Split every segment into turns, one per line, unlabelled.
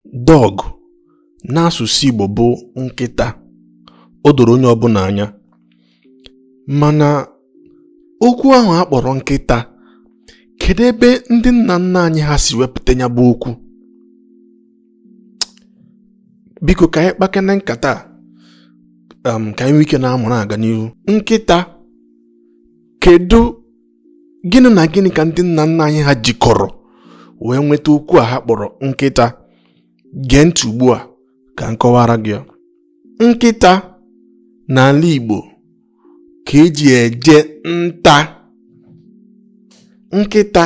Dog n'asụsụ Igbo bụ nkịta o doro onye ọbụla anya mana okwu ahụ a kpọrọ nkịta kedu ebe ndị nna nna anyị ha si wepụta ya bụ okwu biko ka anyị kpakene nkata um, ka anyị nwee ike na-amụrụ aga n'ihu nkịta kedu gịnị na gịnị ka ndị nna nna anyị ha jikọrọ wee nweta okwu a ha kpọrọ nkịta gee ntị ugbu a ka m kọwara gị ya nkịta n'ala Igbo ka eji eje nta nkịta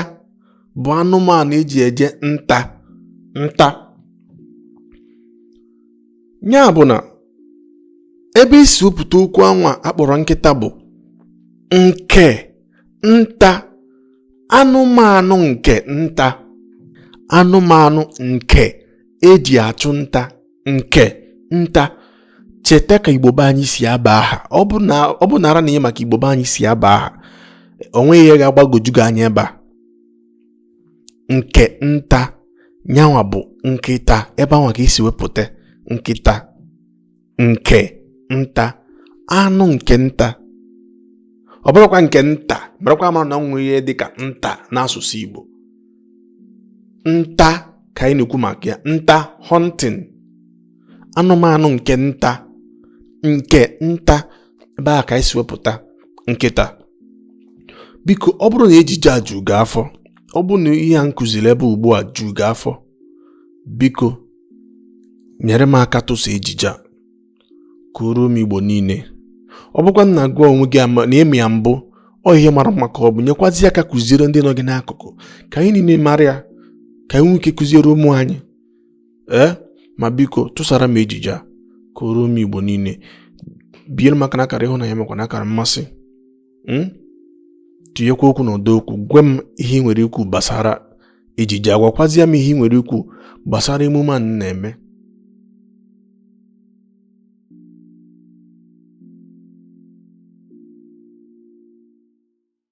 bụ anụmanụ eji eje nta nta ya bụ na ebe e si wepụta okwu anwa akpọrọ nkịta bụ nke nta anụmanụ nke nta anụmanụ nke eji achụ nta nke nta cheta ka igbo be anyị si aba aha ọ bụ nara na ị ma ka igbo be anyị si aba aha onweghị ihe ga-agbagoju gị anya ebe a nke nta nyanwa bụ nkịta ebe anwa ka e si wepụta nkịta nke nta anụ nke nta ọ bụrọkwa nke nta marakwa mara na o nwere ihe dị ka nta n'asụsụ Igbo nta ka anyị na-ekwu maka ya nta hunting anụmanụ nke nta nke nta ebe a ka anyị si wepụta nkịta biko ọ bụrụ na ejije a ju gị afọ ọ bụrụ na ihe a m kụziri ebe ugbu a ju gị afọ biko nyere m aka tụsa ejije a ka o ruo ụmụ igbo niile ọ bụkwa na gị onwe gị ama na ị ma ya mbụ ọ ihe mara mma ka ọ bụ nyekwazi aka kụziere ndị nọ gị n'akụkụ ka anyị niile mara ya ka anyị nwee ike kụziere ụmụ anyị ee ma biko tụsara m ejije a ka o ruo ụmụ igbo niile biere m aka na akara ịhụnanya makwa na akara mmasị hmm? tinyekwa okwu na ụdọ okwu gwa m ihe ị nwere ikwu gbasara ejije a gwakwazịa m ihe ị nwere ikwu gbasara emume a na-eme